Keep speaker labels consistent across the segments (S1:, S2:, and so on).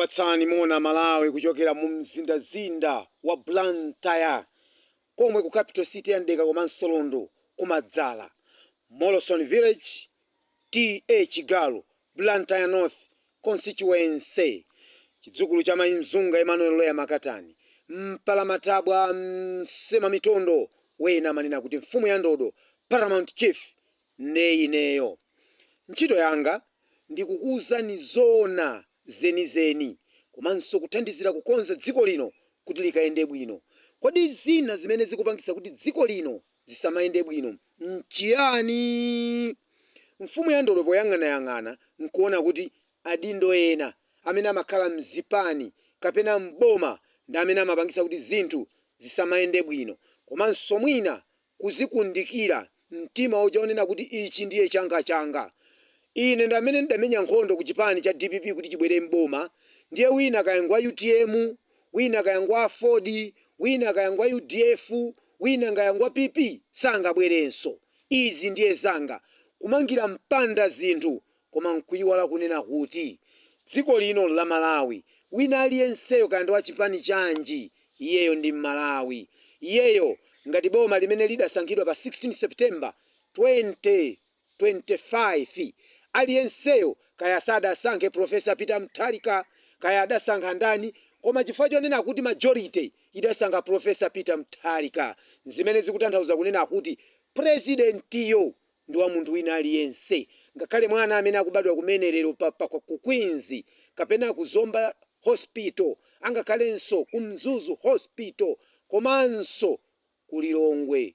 S1: kukupatsani moni aMalawi kuchokera mu mzindazinda wa blantyre komwe ku capital city ya mdeka komanso lundu kumadzala molson village ta chigalu Blantyre North Constituency Chidzukulu cha Mai Mzunga Emmanuel Loya Makatani Mpalamatabwa Msemamitondo Ena amanena kuti mfumu ya ndodo, Paramount Chief, nde ineyo ntchito yanga ndi kukuuzani zoona zenizeni komanso kuthandizira kukonza dziko lino kuti likayende bwino. Kodi zina zimene zikupangitsa kuti dziko lino zisamayende bwino n'chiyani? Mfumu ya Ndodo poyang'anayang'ana n'kuona kuti adindo ena amene amakhala m'zipani kapena m'boma ndi amene amapangitsa kuti zinthu zisamayende bwino komanso mwina kuzikundikira mtima uja wonena kuti ichi ndiye changachanga. Ine ndi amene ndidamenya nkhondo kuchipani cha dpp kuti chibwere m'boma ndiye wina kaya ngwa utm, wina kaya ngwa aford wina kaya ngwa udf wina kaya ngwa pp sangabwerenso. Izi ndiye zanga kumangira mpanda zinthu koma nkuiwala kunena kuti dziko lino nla Malawi. Wina aliyenseyo kaya ndi wa chipani chanji iyeyo ndi Mmalawi. Iyeyo ngati boma limene lidasankhidwa pa 16 September 2025. 25. Aliyenseyo, kaya sadasankhe Prof. Peter Mutharika, kaya adasankha ndani, koma chifukwa chonena kuti majority idasankha Prof. Peter Mutharika, zimene zikutanthauza kunena kuti Purezidentiyo ndi wa munthu wina aliyense, ngakhale mwana amene akubadwa kumene lero ku Queens, kapena ku Zomba Hospital, angakhalenso ku Mzuzu Hospital, komanso ku Lilongwe.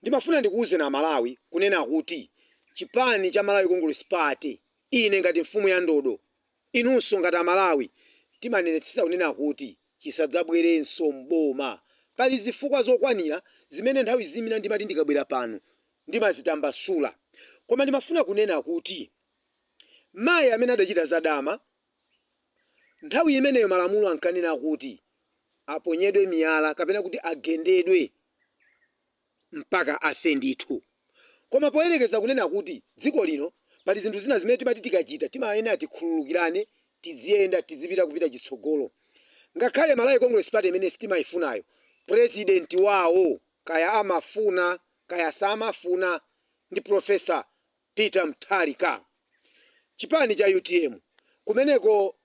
S1: Ndimafuna ndikuuzeni amalawi kunena kuti chipani cha Malawi Congress Party ine ngati mfumu ya ndodo inunso ngati amalawi timanenetsetsa kunena kuti chisadzabwerenso m'boma. Pali zifukwa zokwanira zimene nthawi zina ndimati ndikabwera pano ndimazitambasula koma ndimafuna kunena kuti mayi amene adachita za dama Nthawi imeneyo malamulo ankanena kuti aponyedwe miyala kapena kuti agendedwe mpaka afe ndithu. Koma poyerekeza kunena kuti dziko lino pali zinthu zina zimene timati tikachita timayenera tikhululukirane, tidziyenda, tidzipita kupita chitsogolo. Ngakhale Malawi Congress Party imene sitimaifunayo, president wawo kaya amafuna kaya samafuna ndi Prof. Peter Mutharika. Chipani cha utm kumeneko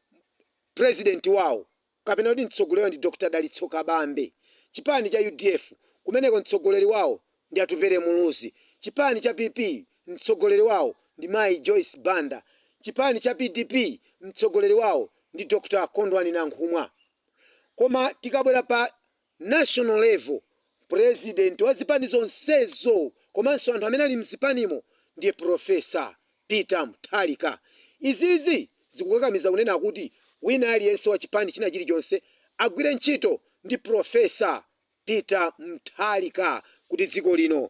S1: president wawo kapena kuti mtsogoleri ndi Dr Dalitso Kabambe. Chipani cha udf kumeneko mtsogoleri wawo ndi Atupele Muluzi. Chipani cha PP mtsogoleri wawo ndi mayi Joyce Banda. Chipani cha pdp mtsogoleri wawo ndi Dr Kondwani Nankhumwa. Koma tikabwera pa. national level, president wa zipani zonsezo komanso anthu amene ali mzipanimo ndiye Prof. Peter Mutharika. Izizi zikukakamiza kunena kuti wina aliyense wa chipani china chilichonse agwire ntchito ndi Prof. Peter Mutharika kuti dziko lino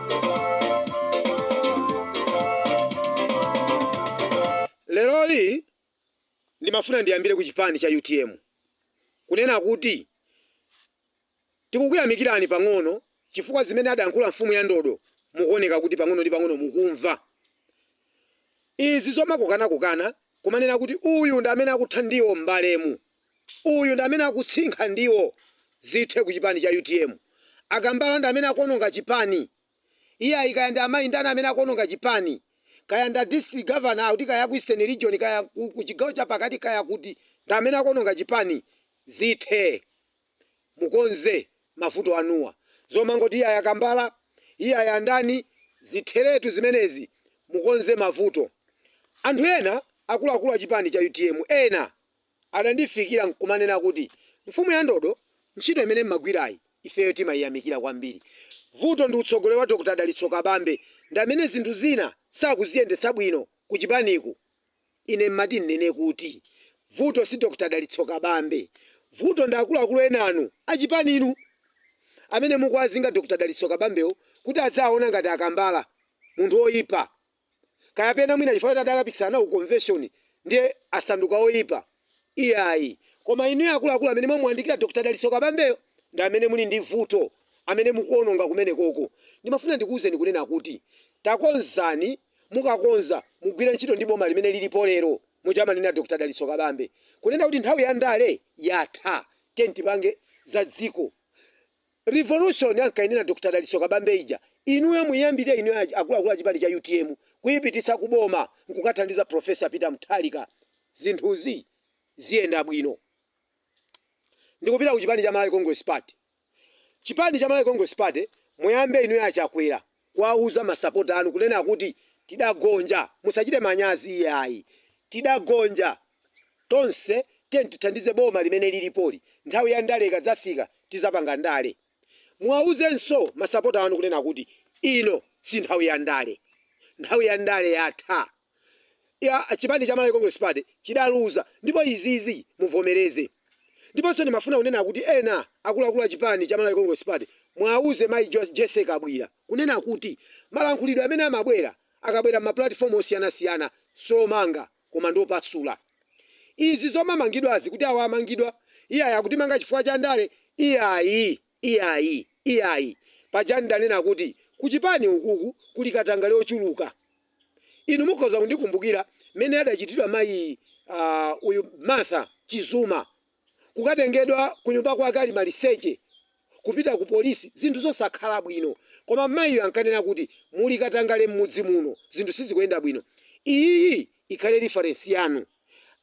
S1: Leroli ndimafuna ndiyambire ku chipani cha utm kunena kuti tikukuyamikirani pang'ono chifukwa zimene adayankhula mfumu ya ndodo mukuoneka kuti pang'ono ndi pang'ono mukumva izi zomakokanakokana kumanena kuti uyu ndi amene akutha ndiwo m'balemu Uyu ndi amene akutsinkha ndiwo zithe ku chipani cha utm. Akambala ndi amene akuononga chipani. Iyayi kaya ndi amayi ndani amene akuononga chipani. Kaya ndi a district governor kuti kaya ku eastern region kaya ku chigawo cha pakati kaya kuti ndi amene akuononga chipani. Zithe. Mukonze mavuto anuwa. Zomangoti iyayi akambala, iyayi andani zitheretu zimenezi. Mukonze mavuto. Anthu ena akuluakulu a chipani cha utm ena. Adandifikira n'kumanena kuti, Mfumu ya ndodo, ntchito imene m'magwirayi ifeyo timaiyamikira kwambiri. Vuto ndi utsogoleri wa Dr. Dalitso Kabambe ndi amene zinthu zina sakuziyendetsa bwino kuchipaniku. Ine m'mati n'nene kuti vuto si Dr. Dalitso Kabambe. Vuto ndi akuluakulu enanu achipaninu amene mukuwazinga Dr. Dalitso Kabambewo kuti aziwaona ngati akambala, munthu woipa. Kayapena mwina chifukwa choti adakapikisana nawo ku convention ndiye asanduka oyipa? Iyayi. Koma inuyo akuluakulu amene mwamuyandikira Dr. Dalitso Kabambeyo ndi amene muli ndi vuto, amene mukuononga kumenekoko. Ndimafuna ndikuuzeni kunena kuti takonzani, mukakonza mugwire ntchito ndi boma limene lilipo lero, muja amanenera Dr. Dalitso Kabambe kunena kuti nthawi ya ndale yatha, tiyeni tipange za dziko. Revolution ankainena Dr Dalitso Kabambe ija inuyo muiyambire inuyo akuluakulu a chipani cha utm kuipititsa ku boma nkukathandiza Prof Peter Mutharika zinthuzi ziyenda bwino. Ndikupita ku chipani cha Malawi Congress Party. Chipani cha Malawi Congress Party muyambe inuyo a Chakwera. kuwauza masapota anu kunena kuti tidagonja musachite manyazi iyayi tidagonja tonse tiyeni tithandize boma limene lilipoli nthawi ya ndale ikadzafika tizapanga ndale muwauzenso masapota anu kunena kuti ino si nthawi ya ndale nthawi ya ndale yatha. ya chipani cha Malawi Congress Party chidaluza ndipo izizi muvomereze. Ndiponso ndimafuna kunena kuti ena akuluakulu a chipani cha Malawi Congress Party muauze mayi Jessy Kabwila kunena kuti malankhulidwe amene amabwera a Kabwila mma platform osiyanasiyana siomanga koma ndiopasula. Izi zomamangidwazi kuti awa amangidwa, iyayi akutimanga chifukwa cha ndale, iyayi. Iyayi, iyayi. Pajanu ndidanena kuti kuchipani ukuku kuli katangale ochuluka. Inu mukhoza kundikumbukira mmene adachitidwa mayi aah uyu Martha Chizuma. Kukatengedwa kunyumba kwake ali maliseche kupita ku polisi zinthu zosakhala bwino. Koma mayiyo ankanena kuti muli katangale mmudzi muno zinthu sizikuyenda bwino. Iyi ikhale reference yanu.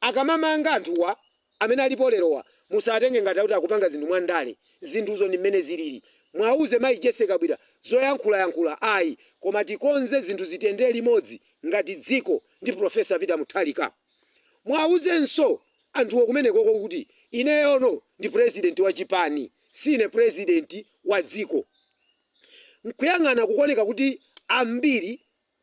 S1: Akamamanga anthuwa Amene alipo lerowa musatenge ngati kuti akupanga zinthu mwa ndale, zinthuzo ndi mmene zilili. Muauze mayi Jessy Kabwila zoyankhulayankhula ayi koma tikonze zinthu zitiyendere limodzi ngati dziko ndi Prof Peter Mutharika. Muauzenso anthuwo kumenekoko kuti ineyono ndi president wa chipani si ine president wa dziko. Nkuyang'ana kukuoneka kuti ambiri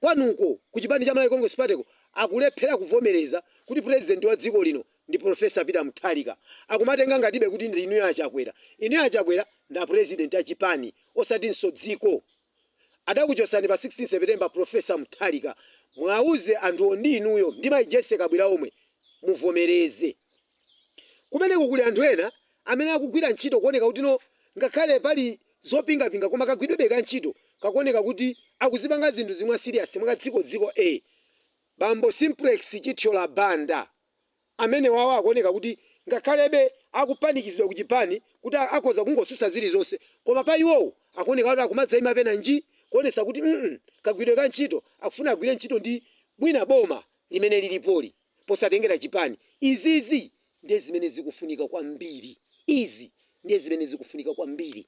S1: Kwanuko ku chipani cha Malawi Congress Party ko akulephera kuvomereza kuti president wa dziko lino ndi Prof. Peter Mutharika. Akumatenga ngatibe kuti ndi inuyo a Chakwera. Inuyo a Chakwera ndi a president a chipani osatinso dziko. Adakuchotsani pa 16 September Prof. Mutharika. Mwauze anthuwo ndi inuyo ndi Mai Jessie Kabwila omwe. Muvomereze. Kumeneko kuli anthu ena amene akugwira ntchito kuoneka kuti no ngakhale pali zopingapinga koma kagwidwebe ka ntchito kakuoneka kuti akuzipanga zinthuzi mwa serious mwa kadziko dziko bambo Simplex Chithyola Banda amenewawo akuoneka kuti ngakhalebe akupanikizidwa ku chipani kuti akhoza kungotsutsa zilizonse koma pa iwowo akuoneka kuti akumadzaima penanji kuonetsa kuti mm kagwidwe ka ntchito akufuna agwire ntchito ndi bwana boma limene lilipoli. posatengera chipani. Izizi ndiye zimene zikufunika kwambiri. Izi ndiye zimene zikufunika kwambiri.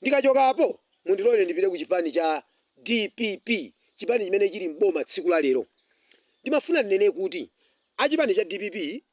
S1: Ndikachoka apo, mundilole ndipite ku chipani cha dpp, chipani chimene chili m'boma tsiku la lero. Ndimafuna ndinene kuti a chipani cha dpp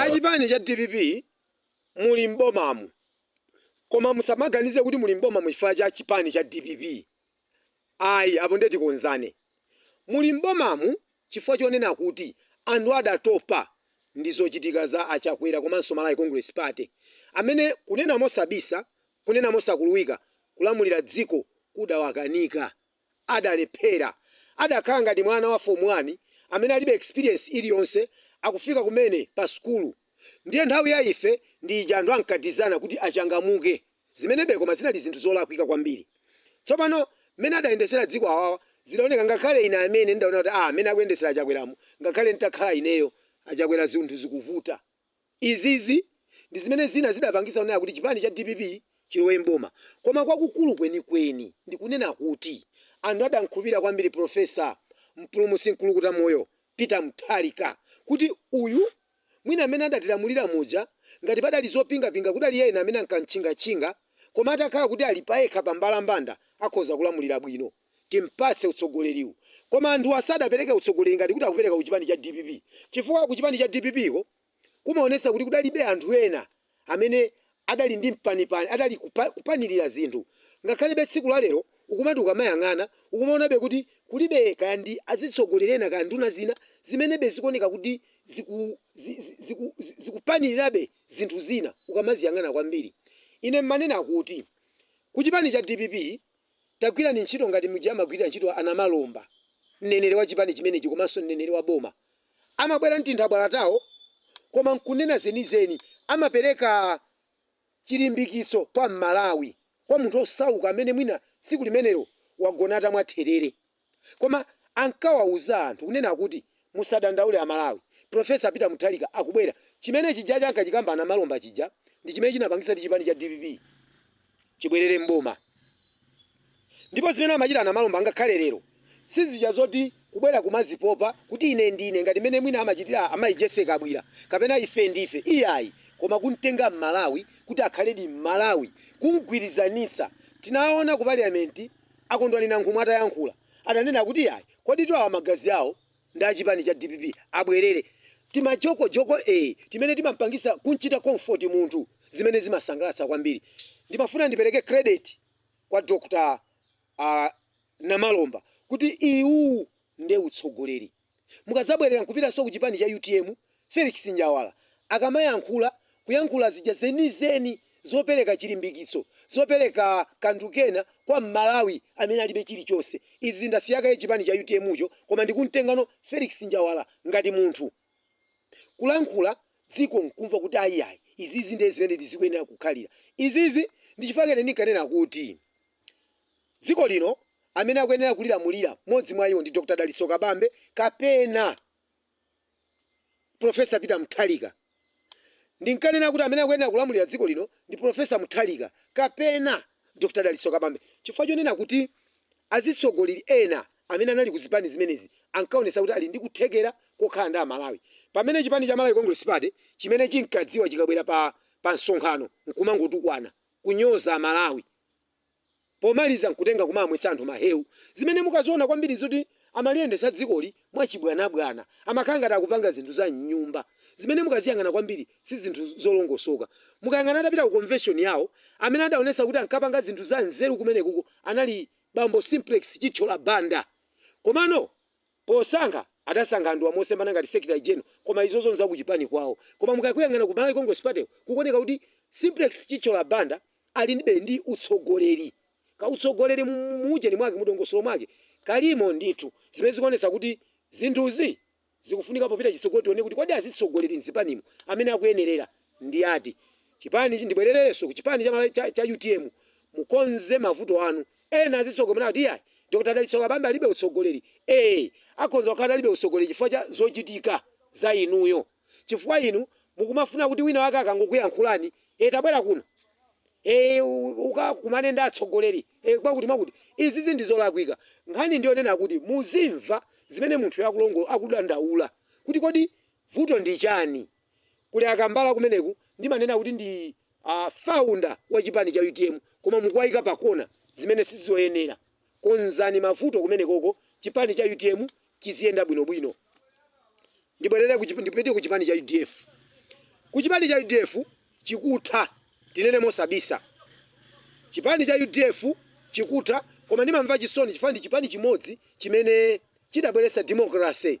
S1: Achipani cha dpp muli m'bomamu koma musamaganize kuti muli m'bomamu chifukwa cha chipani cha dpp ayi apo ndiye tikonzane. Muli m'bomamu chifukwa chonena kuti anthu adatopa ndi zochitika za a Chakwera komanso Malawi Congress Party amene kunena mosabisa, kunena mosakuluwika kulamulira dziko kudawakanika. adalephera. Adakhala ngati mwana wa Form 1 amene alibe experience iliyonse akufika kumene pa sukulu. Ndiye nthawi ya ife ndi ija anthu ankatizana kuti achangamuke. Zimenebe koma zinali zinthu zolakwika kwambiri. Tsopano mmene adayendetsera dziko awawa zidaoneka ngakhale ine amene ndidaona kuti aah mmene akuyendetsera a Chakweramu ngakhale nditakhala ineyo a Chakwera zinthu zikuvuta. Izizi ndi zimene zina zidapangitsa kunena kuti chipani cha dpp chilowe m'boma. Koma kwakukulu kwenikweni ndi kunena kuti anthu adamkhulupirira kwambiri Prof. Mpulumutsi Mkulukuta Moyo Peter Mutharika kuti uyu mwina amene adatilamulira muja ngati padali zopingapinga kudali ena amene ankamtchingatchinga koma atakhala kuti ali payekha pa mbalambanda akhoza kulamulira bwino. timpatse utsogoleriwu koma anthu asadapereke utsogoleri ngati kuti akupereka ku chipani cha dpp chifukwa ku chipani cha dpp ko kumaonetsa kuti kudalibe anthu ena amene adali ndi mpanipani adali kupa, kupanilira zinthu ngakhalebe tsiku la lero ukumati ukamayang'ana ukumaonabe kuti kulibe kaya ndi azitsogoleri ena kaya nduna zina zimenebe zikuoneka kuti ziku, zi, zi, ziku, zi, zikupanilirabe zinthu zina ukamaziyang'ana kwambiri ine mmanena kuti ku chipani cha dpp Tagwirani ntchito ngati muja amagwirira ntchito a Namalomba. Mneneri wa chipani chimenechi komanso mneneri wa boma amabwera n'tinthabwala tawo koma n'kunena zenizeni. Amapereka chilimbikitso kwa Mmalawi, kwa munthu osauka amene mwina tsiku limenelo wagona atamwa therere. Koma ankawauza anthu kunena kuti musadandaule a Malawi, Prof Peter Mutharika akubwera. Chimene chija ankachikamba a Namalomba chija ndi chimene chinapangitsa kuti chipani cha dpp chibwerere m'boma. Ndipo zimene amachita a Namalomba ngakhale lero si zija zoti kubwera kumazipopa kuti ine ndine ngati mmene mwina amachitira a Mayi Jessy Kabwira kapena ife ndife iyayi koma kumtenga m'Malawi kuti akhaledi m'Malawi, kumgwirizanitsa. Tinaona ku Parliament. A Kondwani Nankhumwa atayankhula, adanena kuti yayi, kodi awa magazi awo ndi a chipani cha dpp, abwerere timajoko joko ee timene timampangitsa kumchita comfort munthu zimene zimasangalatsa kwambiri. Ndimafuna ndipereke credit kwa Dr Namalomba kuti uwu nde utsogoleri. mukadzabwerera nkupitanso ku chipani cha utm Felix Njawala akamayankhula kuyankhula zija zenizeni zopereka chilimbikitso zopereka kanthu kena kwa m'Malawi amene alibe chilichonse. Izi ndasiya kaye chipani cha utm cho koma ndikumtengano Felix Njawala ngati munthu kulankhula dziko nkumva kuti ayiayi izizi ndi zimene zikuyenera kukhalira. Izizi ndi chifukwa chake ine ndinkanena kuti. dziko lino, amene akuyenera kulilamulira, mmodzi mwa iwo ndi Dr Dalitso Kabambe kapena Professor Peter Mutharika. Ndinkanena kuti amene akuyenera kulamulira dziko lino ndi Professor Mutharika kapena Dr Dalitso Kabambe chifukwa chonena kuti azitsogoleri ena amene anali ku zipani zimenezi ankaonetsa kuti ali ndi kuthekera kokhala ndi a Malawi pamene chipani cha Malawi Congress Party chimene chinkadziwa chikabwera pa msonkhano nkumangotukwana, kunyoza a Malawi. pomaliza nkutenga kumawamwetsa anthu mahewu zimene mukaziona kwambiri zoti amaliyendetsa dzikoli mwachibwanabwana amakhala ngati akupanga zinthu za mnyumba zimene mukaziyang'ana kwambiri si zinthu zolongosoka mukayang'ana atapita ku convention yawo amene adaonetsa kuti ankapanga zinthu za nzeru kumenekuko anali bambo Simplex Chithyola Banda komano Posankha adasankha anthuwa mosemphana ngati secretary general koma izozo nza kuchipani kwawo koma mukakuyang'ana ku Malawi Congress Party ko kukuoneka kuti Simplex Chithyola Banda ali ndibe ndi utsogoleri. Kautsogoleri mu mu ujeni mwake mu dongosolo mwake kalimo ndithu zimene zikuonetsa kuti zinthuzi zikufunika popita chitsogolo tione kuti kodi azitsogoleri mzipanimu amene akuyenerera ndi ati chipani ndibwerereso kuchipani cha Malawi cha cha utm mukonze mavuto anu ena azitsogoleri kuti iyayi Dr Dalitso Kabambe alibe utsogoleri ee akhonza kukhala alibe utsogoleri chifukwa cha zochitika za inuyo chifukwa inu mukumafuna kuti wina wake akangokuyankhulani ee tabwera kuno ee ukakumane ndi atsogoleri ee kwakuti mwakuti izizi ndizolakwika nkhani ndiyonena kuti muzimva zimene munthuyo akulongo akudandaula kuti kodi vuto ndi chani kuli a Kambala kumeneku ndimanena kuti ndi founder wa chipani cha utm koma mukuwaika pa kona zimene sizoyenera konzani mavuto kumenekoko chipani cha utm chiziyenda bwino bwino ndibwerere ku chip- ndipite ku chipani cha udf ku chipani cha udf chikutha tinene mosabisa chipani cha udf chikutha koma ndimamva chisoni chifukwa ndi chipani chimodzi chimene chidabweretsa democracy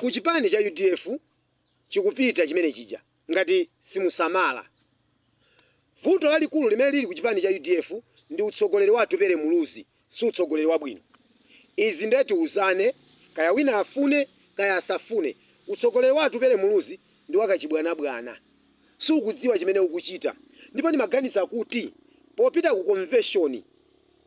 S1: ku chipani cha udf chikupita chimene chija ngati simusamala vuto lalikulu limene lili ku chipani cha udf ndi utsogoleri wa Atupele Muluzi si utsogoleri wabwino. Izi nde tiuzane kaya wina afune kaya asafune utsogoleri wa Atupele Muluzi ndi wa kachibwanabwana. Siukudziwa chimene ukuchita ndipo ndimaganiza kuti popita ku komveshoni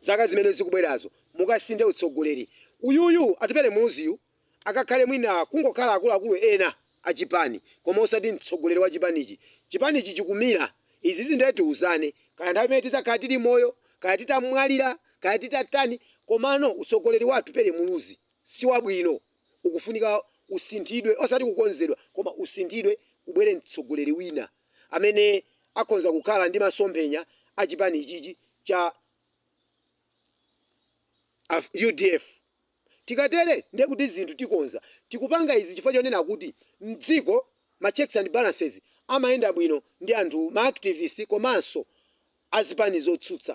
S1: zaka zimene zikubwerazo mukasinthe utsogoleri. Uyuyu Atupele Muluziyu akakhale mwina kungokhala akuluakulu ena achipani koma osati mtsogoleri wa chipanichi. Chipanichi chikumira, izizi ndiye tiuzane kaya nthawi imene tidzakhala tili moyo kaya titamwalira kaya titatani komano utsogoleri wa Atupele Muluzi si wabwino ukufunika usinthidwe osati kukonzedwa koma usinthidwe kubwere mtsogoleri wina amene akhonza kukhala ndi masomphenya a chipani ichichi cha udf. Tikatere ndiye kuti zinthu tikonza. Tikupanga izi chifukwa chonena kuti m'dziko ma checks and balances amayenda bwino ndi anthu, ma activist komanso azipani zotsutsa.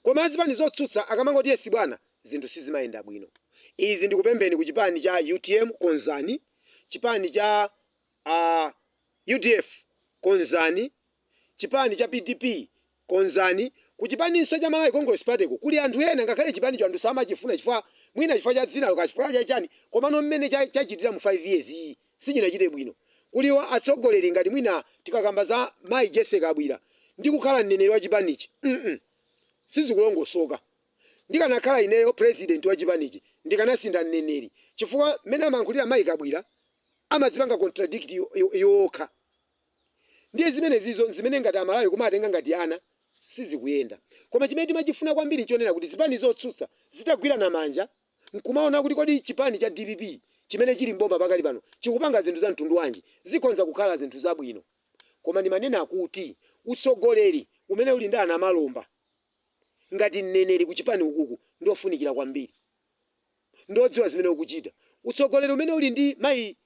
S1: Koma azipani zotsutsa akamangoti yes bwana, zinthu sizimayenda bwino. Izi ndikupempheni ku chipani cha utm, konzani. Chipani cha. a udf konzani, chipani cha pdp konzani, kuchipaninso cha Malawi Congress Party ko kuli anthu ena ngakhale chipanicho anthu samachifuna chifukwa mwina chifukwa cha dzinalo kaya chifukwa cha chani komano mmene chachitira mu 5 years yi sichinachite bwino. Kuli atsogoleri ngati mwina tikakamba za mayi Jessy Kabwira ndi kukhala mneneri wa chipanichi mm sizikulongosoka. Ndikanakhala ineyo president wa chipanichi ndikanasintha mneneri chifukwa mmene amayankhulira mayi Kabwira amazipanga contradict iwo okha ndiye zimene zizo zimene ngati amalawi kumawatenga ngati ana sizikuyenda koma chimene timachifuna kwambiri nchonena kuti zipani zotsutsa zitagwirana manja nkumaona kuti kodi chipani cha dpp chimene chili m'boma pakali pano chikupanga zinthu za mtundu wanji zikhonza kukhala zinthu zabwino koma ndimanena kuti utsogoleri umene uli ndi a Namalomba ngati mneneri kuchipani ukuku ndiofunikira kwambiri. ndi odziwa zimene ukuchita. Utsogoleri umene uli ndi mayi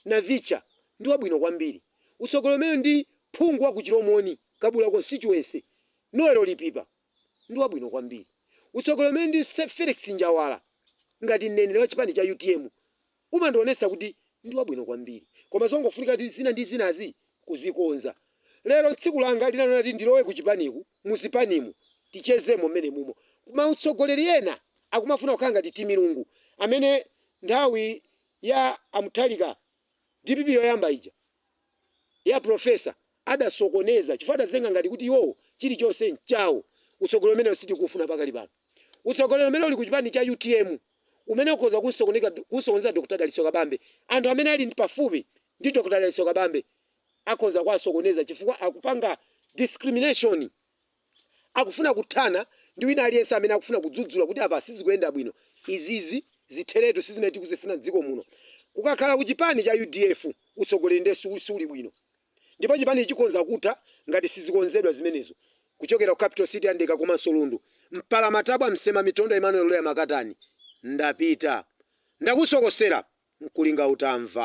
S1: Navitcha ndi wabwino kwambiri. Utsogoleri umene ndi phungu wa ku Chilomoni, Kabula Constituency, Noel Lipipa ndi wabwino kwambiri. Utsogoleri umene ndi Felix Njawala ngati mneneri wa chipani cha utm umandionetsa kuti ndi wabwino kwambiri. Koma zongofunika kuti zina ndi zinazi kuzikonza lero tsiku langa linali loti ndilowe kuchipaniku muzipanimu tichezemo mmenemumo kma utsogoleri ena akumafuna kukhala ngati timilungu amene nthawi ya a mutharika dpp yoyamba ija ya professor adasokoneza chifukwa adazitenga ngati kuti iwowo chilichonse nchawo utsogoleri umenewo sitikufuna pakali pano utsogoleri umene uli kuchipani cha utm umene ukhoza kusokoneza Dr Dalitso Kabambe anthu amene ali pafupi ndi Dr Dalitso Kabambe akhonza kuwasokoneza chifukwa akupanga discrimination akufuna kuthana ndi wina aliyense amene akufuna kudzudzula kuti apa sizikuyenda bwino izizi zitheretu sizimene tikuzifuna mdziko muno kukakhala ku chipani cha udf utsogoleri nde siuli bwino ndipo chipanichi chikhonza kutha ngati sizikonzedwa zimenezo kuchokera ku capital city a Ndeka komanso Lundu mpala matabwa msema mitondo Emmanuel Loya Makatani ndapita ndakusokosera nkulinga utamva.